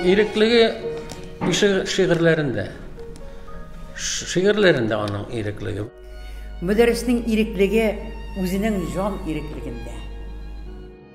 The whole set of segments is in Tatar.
Иреклеге шигырьләрендә. Шигырьләрендә аның иреклеге. Мөдәрриснең иреклеге үзенең җан иреклегендә.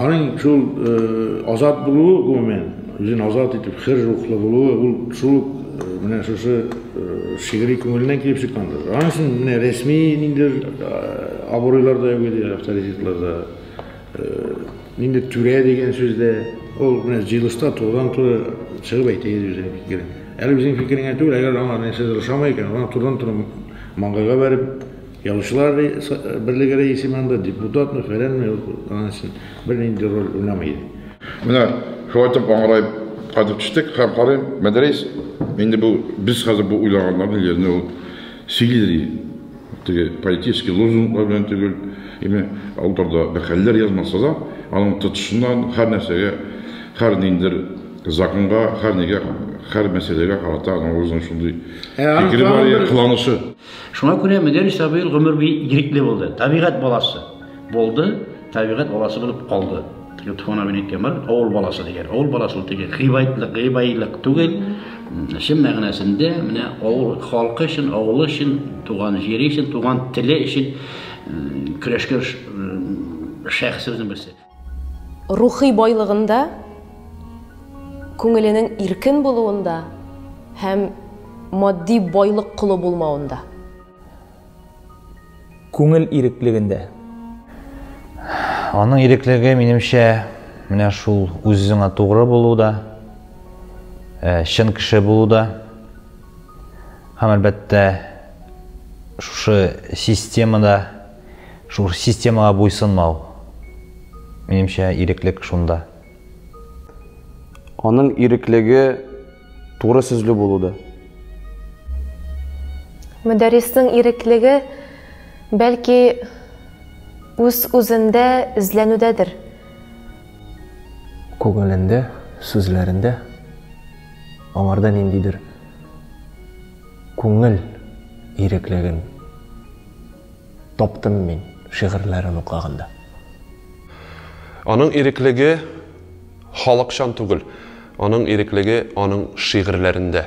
Аның шул азат булуы, гомумән, үзен азат итеп, хөр рухлы булуы, ул шул ук менә шушы шигъри күңеленнән килеп чыккандыр. Аның өчен менә рәсми ниндидер абруйлар да юк иде, авторитетлар да. Нинди түрә дигән сүз дә ул менә җыелышта турыдан-туры чыгып әйтә иде үзенең фикерен. Әле үзенең фикереңә түгел, әгәр аңа нәрсәдер ошамый икән, аңа турыдан-туры маңгайга бәреп Язучылар берлеге рәисе мы анда, депутатмы, фәләнме, ул аның өчен бернинди роль уйнамый иде. Менә шулай итеп аңгыраеп кайтып төштек һәм карыйм, Мәдрәис инде бу без хәзер бу уйлаганнарны җиренә ул сөйли ди. Теге политический лозунглар белән түгел, яме алдарда бер хәлләр язмаса да, аның тотышыннан һәр нәрсәгә, һәр ниндер законга, һәр нигә, һәр мәсьәләгә карата аның үзенең шундый фикере бар, кыланышы. Шуңа күрә Мөдәр Исабыйл гомер буе ирекле булды, табигать баласы булды, табигать баласы булып калды. Йотхон абин әйткән бар, авыл баласы дигән. Авыл баласы ул теге гыйбайтлык, гыйбайлык түгел. Чын мәгънәсендә менә авыл халкы өчен, авылы өчен, туган җире өчен, туган теле өчен көрәшкән шәхесләрнең берсе. Рухи байлыгында, күңеленең иркен булуында һәм матди байлык колы булмавында. Күңел иреклегендә. Аның иреклеге, минемчә, менә шул үзеңә тугры булуда, э, чын кеше булуда. Һәм әлбәттә, шушы системада Шул системага буйсынмау. Минемчә, иреклек шунда. Аның иреклеге туры сүзле булуда. Мөдәрриснең иреклеге, бәлки, үз-үзендә эзләнүдәдер. Күңелендә, сүзләрендә, аңарда ниндидер күңел иреклеген. таптым мин шигырьләрен укыганда. Аның иреклеге халыкчан түгел, аның иреклеге аның шигырьләрендә.